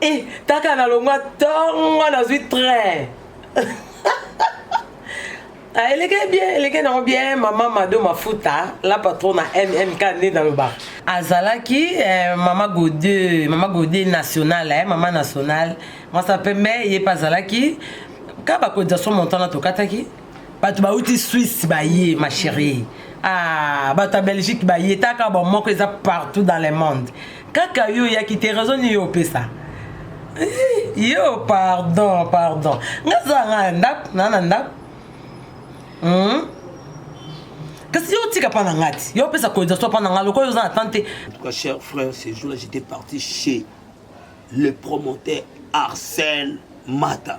Eh, kaka na longwa tongo nazwi train ah, eleke bien eleke nango bien mama mado mafuta la patrona mmk nde nalobaka azalaki eh, mama gode mama gode nationale eh, mama nationale mwasa pembe ye mpe azalaki ka bakodisa so montana tokataki bato bauti swisse baye ma chérie ah, bato ya belgique baye taka bamoko eza partout dans le monde kaka yo oyaki te raison nini yo opesa eh, yo pardon pardon nga za nga na ndako na na ndako hmm? kasi yo otika mpa na nga ti yo opesa cotisation mpa na nga lokola oza na temps te cher frère ce jour là j'étais parti chez le promoteur arsène mata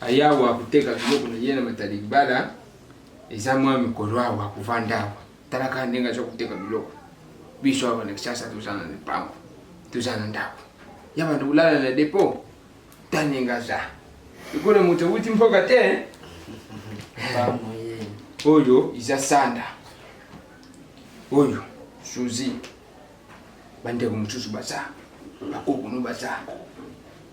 ayawa kuteka biloko na ye na matali libala eza mwa mikolo awa kovanda awa tala kaka ndenge aza kuteka biloko biso awa na kisasa toza na mipango toza na ndako ya bando kolala na depo ta ndenge aza ekolo moto ewuti mpoka te eh? oyo eza sanda oyo suzi bandeko mosusu baza bakokunu baza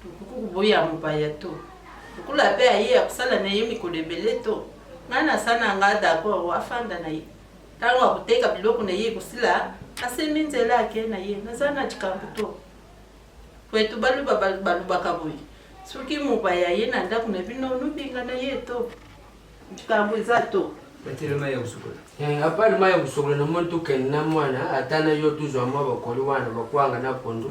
Okoki koboya mopaya to lokola pe aye ya kosala na ye mikolo ebele to ngai nasa na ngai dakoro afanda na ye ntango akoteka biloko na ye ekosila asembi nzela ake na ye naza na likambo to kwetu baluba balobaka boye soki mopaya aye na ndako na bino nobinga na ye to likambo eza to batele mai ya kosukola eh, apali mai ya kosukola na moni tokende na mwana ata na yo tozwa mwa bakoli wana bakwanga na pondu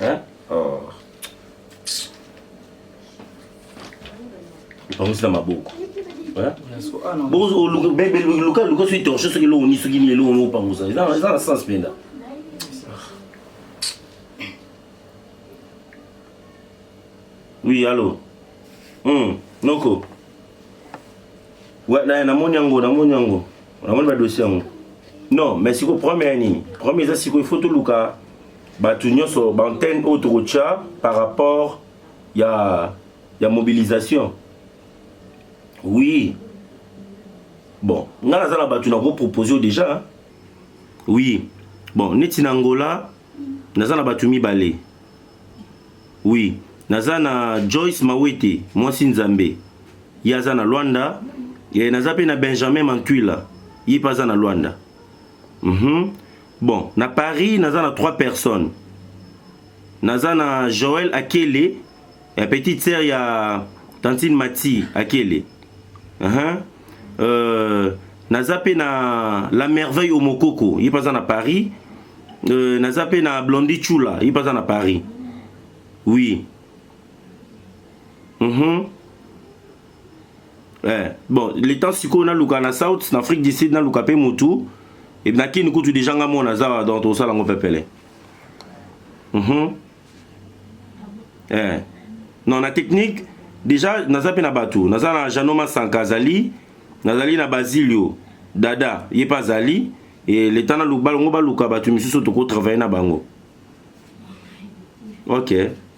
Hein? Oh. Pangusi na maboko. Hein? Bozo luka bebe luka luka soki torche soki lo ni soki ni lo no pangusa. Eza eza na sens penda. Oui, allô. Hum, Noko. Ouais, na na moni yango, na moni yango. Na moni ba dossier yango. Non, mais siko premier nini? Premier eza siko il faut to luka bato nyonso baantenne oyo tokotya par rapport ya, ya mobilisation oui bon ngai naza na bato nakopropose oyo déjà oui bon neti na angola naza na bato mibale oui naza na joyce mawete mwasi nzambe ye aza na lwanda e, naza mpe na benjamin mantwila ye mpe aza na lwanda mm -hmm. Bon, na Paris naza na trois personnes. Naza na Joël Akele, ya petite sœur ya tantine Mati Akele. Uh -huh. euh, naza pe na La Merveille Omokoko, ye paza na Paris. Euh, naza pe na Blondie Chula, ye paza na Paris. Oui. Mhm. Mm eh, bon le temps sikoyo naluka na south na afrique du sud naluka mpe motu e, na kini kutu deja nga mona aza donc tokosala yango pepele mm -hmm. eh. non na technique deja naza mpe na bato naza na jano masanka azali nazali na basilio dada ye mpe azali e, leta na balongo baluka bato misusu tokotravaille na bango ok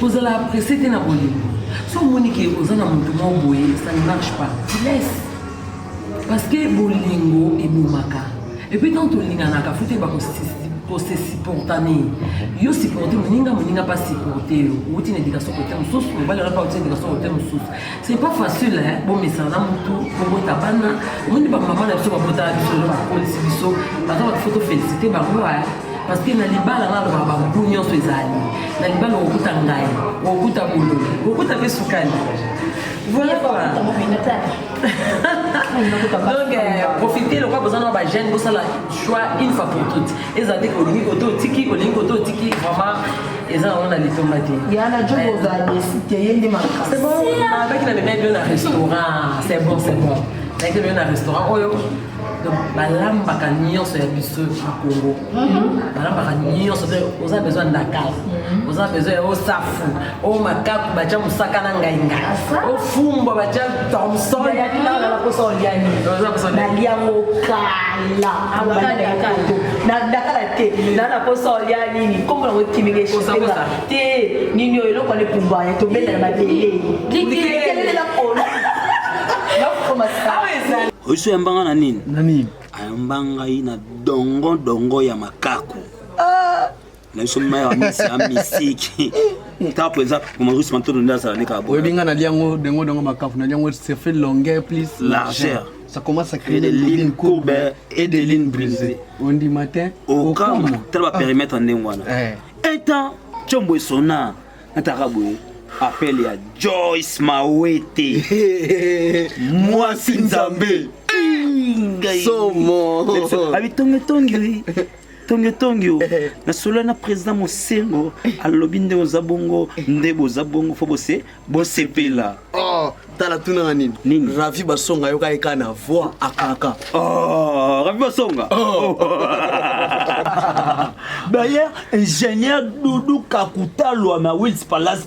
kozala presse te na bolingo so omoni ke oza na moto moko boye ça ne marche pas tu laisse parce que bolingo ebomaka epuis ntango tolinganaka fo te bakose supportane yo supporte moninga moninga mpe supporte yo outi na edikation kote mosusu mobali wana mpe outi na edikation kote mosusu C'est pas facile hein, bomesana mutu kobota bana omoni bamama na biso babotaka biso lelo bakolisi biso baza bato fo tofélicité bango hein. parce que na libala nga aloba bangu nyonso ezali na libala okokuta ngai okokuta bololo okokuta mpe sukali voilà quoi donc euh, profitez lokola boza na bajeune bosala choix une fois pour toute ezala te olingi kote otiki olingi kote otiki vraiment eza yango na litomba te yana jo kozala desi te ye nde makasi c'est bon abaki na memai bio na restaurant c'est bon c'est bon nayaki bio na restaurant oyo donc balambaka nyonso ya biso na congo mhm. balambaka nyonso oza besoin ya ndakala mhm. oza besoin ya osafu o makaku batya mosaka na ngainga ofumbwa batya thomsonnaliango kalakala te na naposa olia nini nkombo nango ekimigesotenga te nini oyo eloko alepumbwa ya tobenda na mabele oiso yambanga na nini ayamba ngai na dongo dongo ya makaku na biso mai ya misa ya misiki ntango mpenza mamarus mantono nde azala nde kaka oyebi ngai nalia yango dengo dengo makafu nalia yango se fait longueur plus largeur ça commence à créer des lignes courbes et des lignes brisées on dit matin okama tala ba périmètre ndenge wana etant combo esona nataka boye appel ya joyce mawete mwasi nzambe somo abitongetongi tongi tongi o eh. nasolo na président mosengo alobi nde oza bongo nde boza bongo fo bose bosepela oh, tala tunanga nini nini ravi basonga yoka eka na voix akaka oh, ravi basonga oh. d'ailleurs ingénieur doudou kakutalwa na wils palace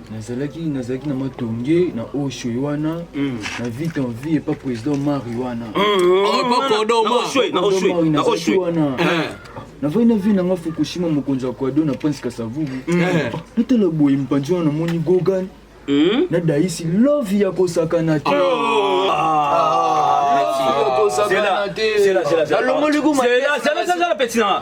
nazalaki nazalaki na matonge na oshwe wana hmm. na vite en vie epa président mari wana navai na vie nanga fukushima mokonzi ya kwado na prince kasavubu hmm. eh. natala boye mpanzi wana namoni gogan hmm? na daisi love ya kosakana te oh. ah. alongoli kumapetinanga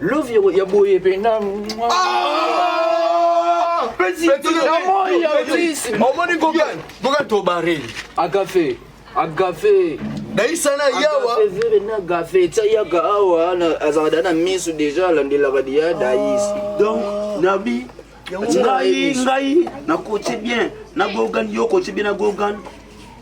Love ya- ya boye pena. Petit, na moi ya fils. omoni gogan gogan tobare Agafe, agafe. naisa na yawa Agafe vere na agafe. Tia yaka awa na azalaka na misu deja alandelaka dia dais. donc nabi ngai ngai nakote bien na gogan yo okote bien na gogan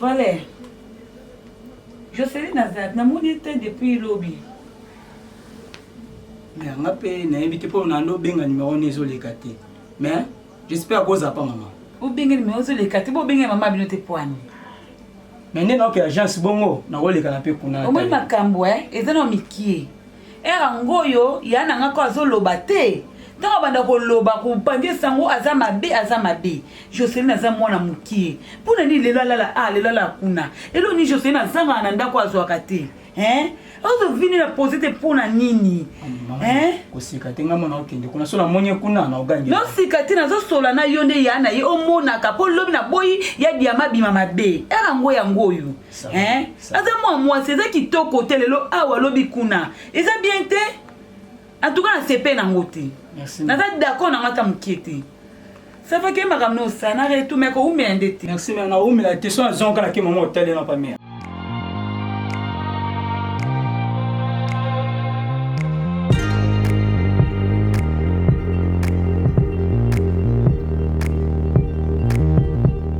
Valère, Jocelyn Azad, namoni ye te depuis lobi. Mais nga pe nayebi te mpo na ndo benga numéro ne ezoleka te. Mais j'espère koza pa maman. Obenge numéro ezoleka te, bo benge maman bino te poani. Mais nde naoke agence bongo nakolekana mpe kuna. Omoni makambo eh, eza na mikie. Heure yango oyo ya na nga ko azoloba te ntango abanda koloba kopandisa yango aza mabe aza mabe joseline aza mwana mokie mpo na nini lelo alala a ah, lelo alala kuna elo nini joseline azangaka na ndako azwaka te ozovini na pose te mpo na nini kosika te ngai mona okende kuna so namoni kuna na ogangi nosika te nazosola na yo nde ya na ye omonaka mpo lobi na boyi ya diama bima mabe ere yango yango oyo hein aza mwa mwasi eza kitoko te lelo awa lobi kuna eza bien te antuka na sepe nango te naza d'accord nango ata mokie te safa ke makambo nosana retu me koumela nde te merci me naumela te so azongala ke mama otali na pamea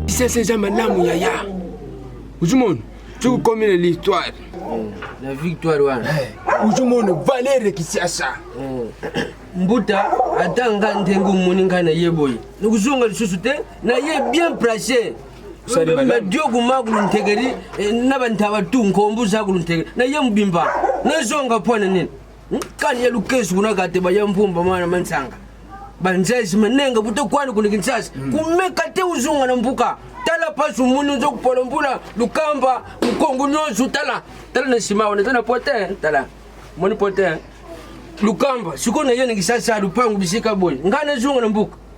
sese eza malamu yaya ozomona soki okomi na l'histoire na victoire wana ozomona valere kisasa mbuta ata nga ndenge omoni ngai na ye boye nakozonga lisusu te na ye bien place madiogu magulu ntegeri eh, na bantaba tu nkombu zagulu ntegeri na ye mobimba nazonga mpo na nini kani ya lukesu kuna kate baya mpumba mwana mansanga banzazi manenga buto kwani kuna kinsasa mm. kumeka te uzunga na mbuka tala pasi omoni oza kopola mbula lukamba mokongo nyonso tala tala na nsima wana eza na pote tala moni pote lukamba sikoyo naye na kisasa lupangu bisika boye ngai nazonga na mbuka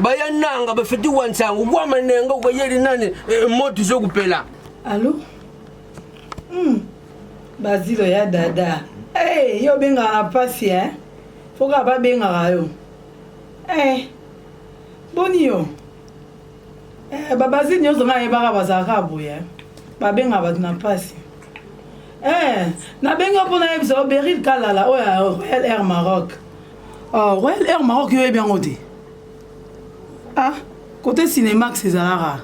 bayananga bafeti wa nsango bwa manenga ubayeli nani eh, moto izokupela alo mm. bazilo ya dada hey, eh, yo obengaka na mpasi eh? foka babengaka yo hey, eh, boni yo eh, babazili nyonso ngai ayebaka bazalaka boye eh? babengaka bato na mpasi eh, nabengi yo mpo nayebisa yo beril kalala oyo ya royal air maroc Ah, Royal Air Maroc yo yebi yango te. Ah, côté Cinemax ezalaka.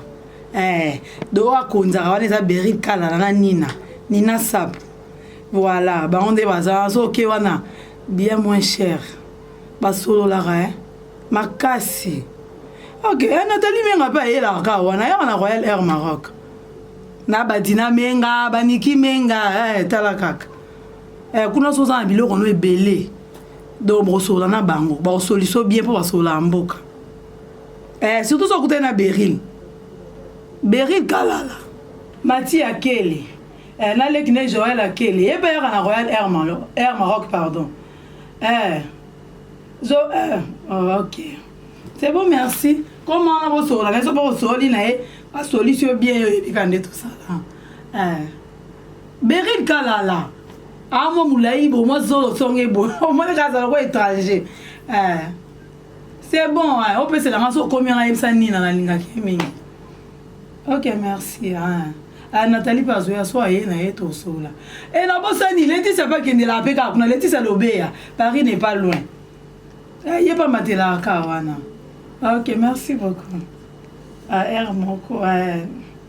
Eh, do akonzaka wana eza Berry Kalala na Nina, Nina Sap. Voilà, bango nde baza so ke wana bien moins cher. Basololaka eh makasi. Ok, eh, Nathalie Menga pe ayelaka kaka wana, ayaka na Royal Air Maroc. Na Badina Menga, Baniki Menga, eh tala kaka. eh, kuna so oza na biloko no ebele donc bokosolola na bango bakosoliso bien mpo basololaka mboka eh, surtout so okutani na beril beril kalala mati akele eh, naleki na joel akele ye mpe yaka na royal air, Malo, air maroc pardon eh, zo eh, oh, ok c'est bon merci comme wana bosolola na biso mpo kosoli na ye basolisi yo bien yo oyebika nde tosala eh. Beryl Kalala a mwa mulayi bo mwa zolo songe bo omoni kaka azala ko étranger eh. c'est bon hein. opesela nga so okomi yanga yebisa nini na nalingaki ye mingi ok merci hein. Ah, natali mpe azoya so aye na ye tosola e eh, nabosani letisia mpe akendelaka mpe kaka kuna letisia lobeya paris n'est pas loin eh, ye mpe amatelaka kaka wana ok merci beaucoup ar ah, moko eh.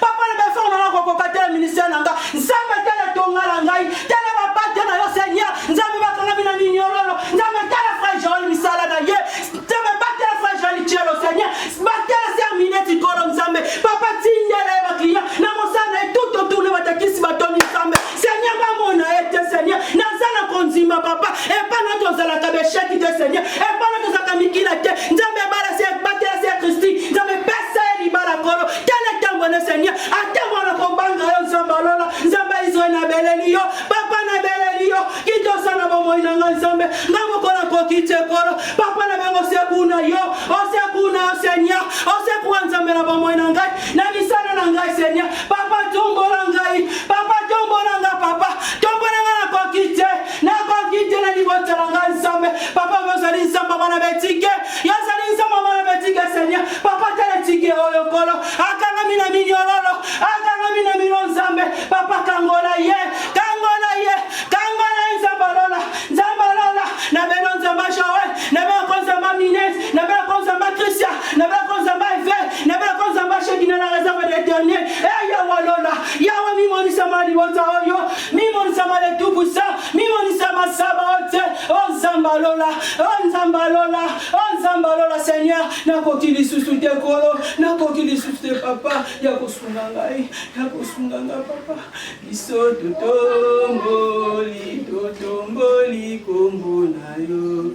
papa na befort na nako koka te ministère na nga nzambe tala tonga na ngai tala bapate na yo seigneur nzambe bakangami na miniololo nzambe tala frère joel misala na ye nzambe batela frère joel cielo seigneur batela ser mineti kolo nzambe papa tindela ye baclient na mosala na ye tout autour ne batakisi batoni nzambe Seigneur bamona ye te Seigneur naza na kondima papa epa na tozalaka besheki te Seigneur epa na tozalaka mikila te nzambe ebala se batela se kristi nzambe pesa ye libala kolo tala ntango ne Seigneur ata mwana kobanga yo nzambe alola nzambe israel nabeleli yo papa nabeleli yo kitosa na bomoi na ngai nzambe nga mokola koki te kolo papa na bengo sekuna yo osekuna yo Seigneur osekua nzambe na bomoi na ngai na misala na ngai seigneur papa tombola ngai papa tombola nga papa tombola nga nakoki te nakoki te na libota na ngai nzambe papa yo ozali nzambe bana betike yo ozali nzambe bana betike seigneur papa tala tike oyo kolo akangami na minyololo akangami na mino nzambe papa kangola ye kangola ye kangola ye nzambe lola nzambe lola na beno nzambe joel na beno konzamba mines na beno konzamba christian na beno konzamba evêque nabelaka nzambe asheki na la réserve de éternel e eh, yawa lola yawa mimonisama libota oyo mimonisama le tout puissant mimonisama saba ote o oh, nzambe alola o oh, nzambe alola o oh, nzambe alola seigneur nakoki lisusu te kolo nakoki lisusu te papa ya kosunga ngai ya kosunga ngai papa biso totomboli totomboli kombo na yo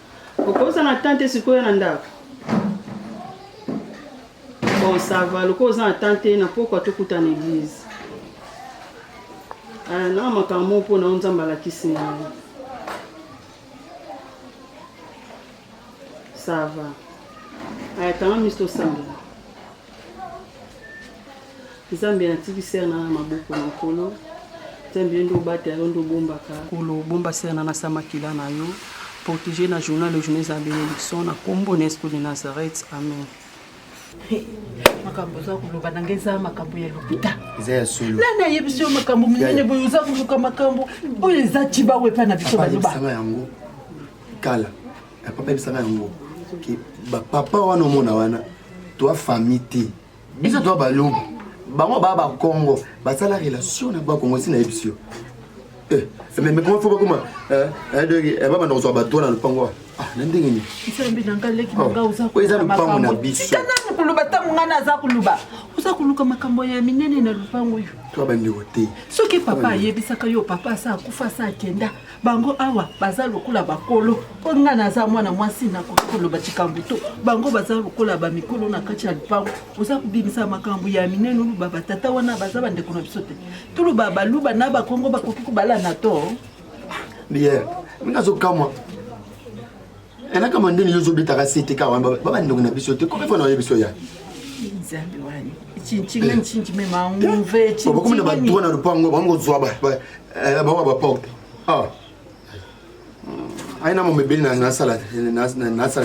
Okoza na temps te sikoyo na ndako. Bon, ça va, lokola oza na temps te na pokwa tokutana église. Ah, na makambo moko mpo na yo Nzambe alakisi ngai. Ça va. Aya, kanga miso tosambela. nzambe natiki sere na na maboko na nkolo nzambe yo nde obatela yo nde obombaka kolo obomba sere na nasa makila na yo protégé na journal le journée eza bénédiction na nkombo na yesu de nazareth amen makambo oza koloba na ngai eza makambo ya lopita eza ya solo nani ayebisi yo makambo minene boye oza koluka makambo oyo eza cibawo epai na biso baloba yango kala papa yebisaka yango ke bapapa wana omona wana toa famille te biso toa balobi bango baa bakongo basala relation na bakongo si nayebisi yo eh, mais comment faut bakoma eh, eh, donki babanda kozwa bato wana lopango wa ah, na ndenge nini oh, eza lopango na biso koloba ntango ngai naza koloba oza koluka makambo ya minene na lopango oyo to bandeko te soki papa ayebisaka yo papa asa akufa asa akenda bango awa baza lokola bakolo mpo ngai naza mwana mwasi nakoki koloba likambo to bango baza lokola bamikolo na kati ya lupango oza kobimisa makambo ya minene oluba batata wana baza bandeko na biso te toluba baluba na bakongo bakoki kobalana to biye nga azokamwa elaka mandeni yo ozobetaka sete kaka wana babandeko na biso te komefa na oye biso ya nzambe wani cincinga ncinci mema nguve cincinga bakomona badroit na lupango bango kozwa eh, bango ba porte ah. aina mo mebeli nasala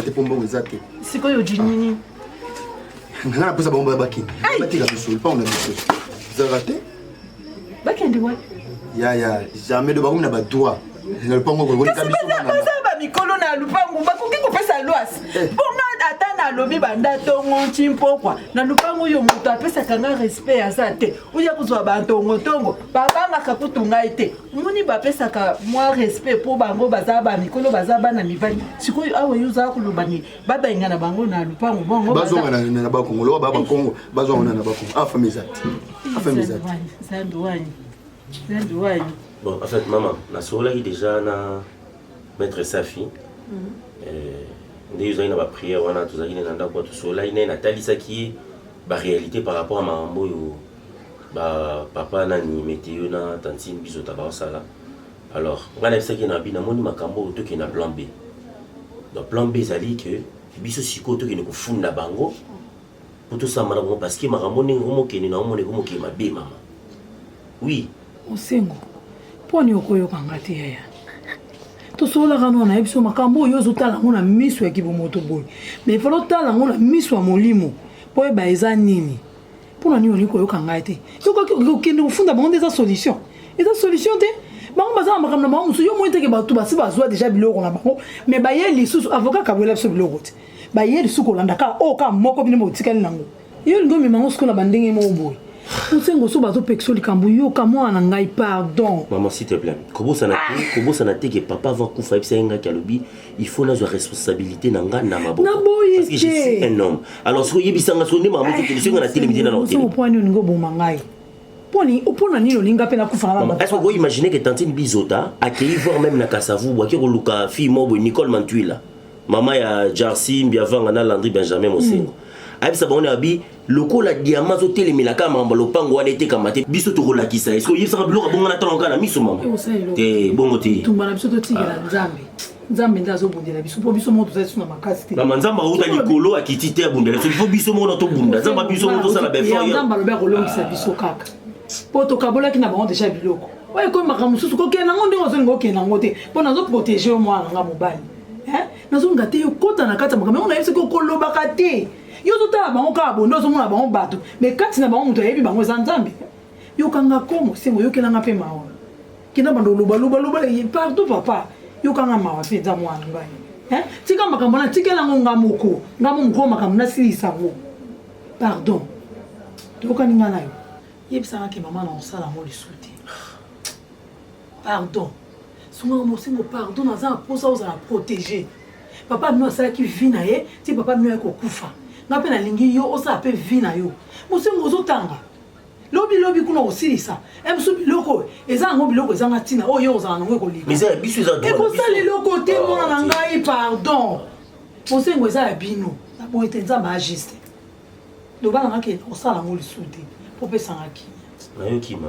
te mpo mbongo eza te sikoyo jinini nga napesa bango bakende batika misolo mpango na biso ezalaka te bakende wapi ya ya jamais do bakomi na badroit na lopango kokolika biso mikolo na lupangu bakoki kopesa lwas eh. bonga ata nalobi banda ntongo nci mpokwa na lupangu oyo moto apesaka nga respect aza te oya kozwa bantongotongo babangaka kutu ngai te moni bapesaka mwa respect mpo bango baza bamikolo baza bana mibali sikoyo awa yo ozala koloba ni babenga na bango na lupango bongo bazongana na bakongo loba ba bakongo bazongana na bakongo afami eza te afami eza te zambi wani zambi wani bon en fait mama nasololaki déjà na maître safi mhm. eh, nde ozalaki na baprière wana tozalaki ne na ndako tosololaki naye natalisaki ye baréalité par rapport ya makambo oyo ba papa nani meteo na tantine bizota baosala alors ngai nayebisaki na abi namoni makambo oyo tokende na plan b donc plan b ezali ke biso sikoyo tokende kofunda bango mpo tosamba na bango parce que makambo ndenge komokende na omona ekomokende mabe mama oui osengo mpo ni okoyoka nga te yaya tosololaka nao nayebi so makambo oyo ozotala yango na miso ya kibomoto boye mais fala otala yango na miso ya molimo mpo oyeba eza nini mpo na nini olingi koyoka ngai te soki okende kofunda bango nde eza solution eza solution te bango baza na makambo na bango mosusu yo moi teke bato basi bazwa deja biloko na bango me baye lisusu avoka kabwela biso biloko te baye lisusu kolanda kaka oyo oh, kaka moko bino botikali nango yo olingi omema yango sikola bandenge moko boye osengo so bazopekisa likambo yoka mwana na ngai pardon mama s'il te plaît kobosana te ah! kobosana te ke papa avant kufa ayebisa ye ngaki alobi il faut nazwa responsabilité na nga na maboko na boye te je suis un homme alors soki oyebisa nga soki nde makambo te kende soki nga na telemi te na na hotel soki oponi olingi oboma ngai poni opona nini olinga pe nakufa na baba est-ce que vous imaginez que tantine bizota accueilli voir même na kasavu bwa kiko luka fille mobo Nicole Mantuila maman ya Jarcy Mbiavanga na Landry Benjamin Mosengo mm. ayebisa bango na bi lokola diama azotelemela kaka makambo ya lopango wana etekama te biso tokolakisa eske oyebisaka biloko abongana ntango kaka na miso mama te bongo te tumba na biso totikela ah. nzambe nzambe nde azobundela biso mpo biso moko tozali biso na makasi te mama nzambe auta likolo akiti te abundela biso mpo biso moko na tobunda nzambe biso moko tosala befoyanzambe alobi akolongisa ah. biso kaka mpo tokabolaki na bango deja biloko oyo ekomi makambo mosusu kokende nango ndenge ozolinga okende yango te mpo nazoprotege yo mwana na nga mobali nazonga te okota na kati ya makambo yango nayebi soki okolobaka te yo ozotala bango kaka bonde ozomona bango bato me kati na bango moto ayebi bango eza nzambe yokanga komo sengo yokelanga mpe mawa kenda banda olobaloba pardon papa yokanga mawa mpe eza mwana ngai tika makambo na tikelango nga moko nga mo mokoo makambo nasilisa yango pardon toyokani nga nayo yebisanga ke mama na osala yango lisusu te Pardon. Sunga mosengo pardon naza na posa ozala protégé. Papa mino asalaki vie na ye ti papa mino ayaki kokufa. Nga mpe nalingi yo osala mpe vie na yo. Mosengo ozotanga. lobi lobi kuna osilisa biso biloko oyo eza yango biloko ezanga ntina oyo ye ozala nango ekolikekosala eloko te mwana na ngai pardon mosengo eza ya bino na boye te nzambe agiste loba nangaki osala yango lisusu te popesanga kimia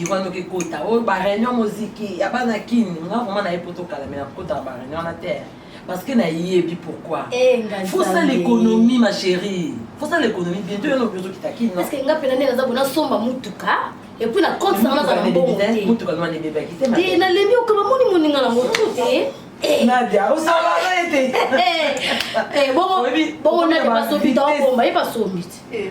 mokili wana okekota oyo bareunion moziki ya bana kini nga vraimen naye poto kala me nakotaka bareunion wana te parce que nayebi pourquoi eh, faut ça l'économie ma chérie faut ça l'économie bientôt yo nobi ozokita kino parce que nga pena ndenge naza bona somba mutuka epuis na compte sanga nazala mbongo te nalembi okaba moni moninga nango tu te eh. nadia osala ete eh, bongo nade basombi tawakomba ye basombi te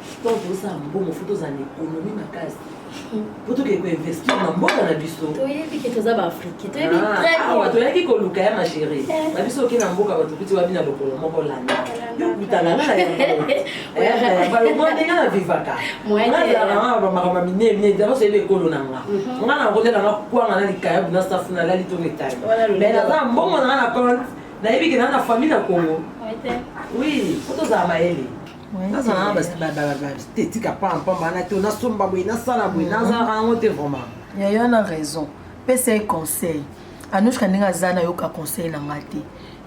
Histoire tozala mbongo fo tozala na ekonomi makasi po tokei koinvestir na mboka na biso toyebi ke toza baafriki toyebi awa toyaki koluka ya magere na eh. biso oke na mboka bato kuti wabi na lokolo moko landa yokutana na yangobalobondenga na vivaka nazalaka bamakambo ya minene minene daba soyebi ekolo na nga mhm. nga na kolela nga kwanga na likayabu na safu na lali to metali me naza mbongo na nga na compte nayebi ke naa na famille na congo oui po tozala mayele nazala na baestetika pampamba na te nasomba boye nasala boye mm-hmm. nazalaka yango te vraiment yayo na raison pesa ye conseil anushka ndenge aza nayoka conseil na ngai te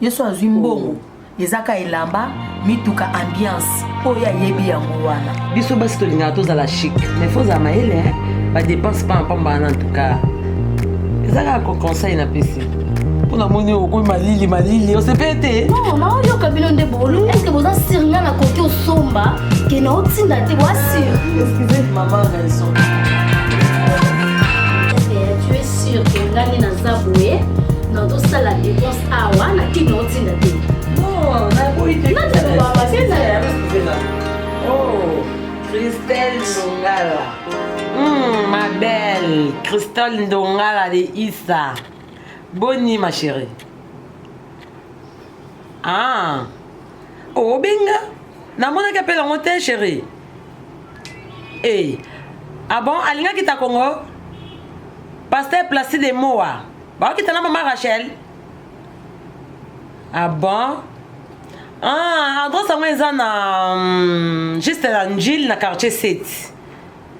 yesu azwi mbongo oh. ezaka elamba mituka ambiance oyo ayebi yango wana biso basi tolingaka tozala chic mais fo ozala mayele badepense pa mpamba wana ntuka ezaka conseil napesi mpona moni okoi malili malili osepeli te mama oyoka bino nde bolu eske boza sir nga nakoki osomba ke na otinda te boa sir excuse mama raison tu es sûr que ngani naza boye na tosala dépense awa na kini otinda te Christelle Ndongala de Is Sa. Boni ma chérie. Ah. Obenga. Namonaki appel yango te chérie. Eh. Ah bon, alingaki ta Congo? Pasteur Placide Moa. Baokita na mama Rachel. Ah bon? Ah, adresse yango eza na um, juste na Njil na quartier 7.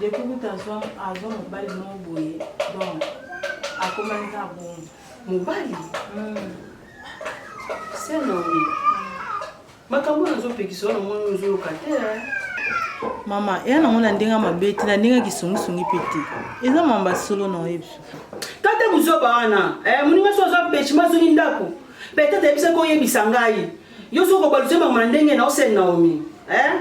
depuis kuta azwa azwa mobali moko boye donc akomaki kaka bongo mobali hmm. se naomi makambo oyo ozopekisa wana mwana ozoyoka te eh. mama eya nango na ndenge mabe te na ndenge kisungisungi mpe te eza mama basolo na oyebi tata buzoba wana eh, moninga so aza pechima azongi ndako petete ayebisaki oyebisa ngai Yo soki obaluse makambo na ndenge na osene Naomi eh?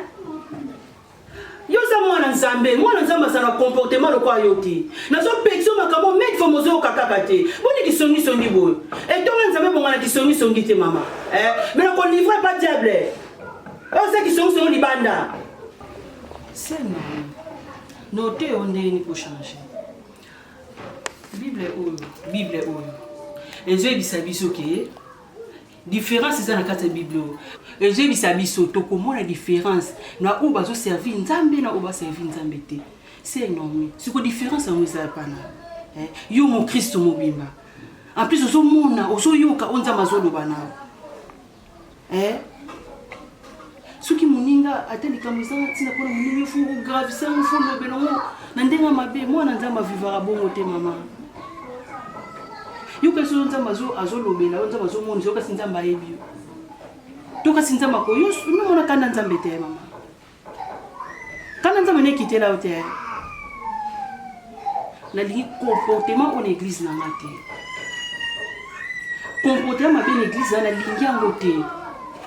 yo oza mwana nzambe mwana nzambe aza na comportement lokola yo te nazopekisa makambo mete fo mozoyoka kaka te boni kisongisongi boye etonga nzambe bonga na kisongisongi te mama eh? me na kolivre pa diable oza kisongisongi libanda sena note yo ndenge nini kochange bible oyo bible oyo ezoyebisa biso ke Difference eza na kati ya Biblia oyo ejebisa biso tokomona difference na oyo bazo servir Nzambe na oyo ba servir Nzambe te. C'est énorme. Siko difference yango eza pana. Eh, yo mo Kristo mobimba. En plus ozo mona, ozo yoka oyo Nzambe azo loba na yo. Eh, soki moninga ata likambo ezanga ntina mpona moninga efo ogravise yango fo olobela yango na ndenge ya mabe mwana nzambe avivaka bongo te mama yokasi oyo nzambe azolobela oyo nzambe azomonisa yokasi nzambe ayebi yo to kasi nzambe akoyo omimona kanda nzambe te mama kanda nzambe nekitela yo te nalingi comportement oyo na eglize na nga te comportement mabe na eglize na nalingi yango te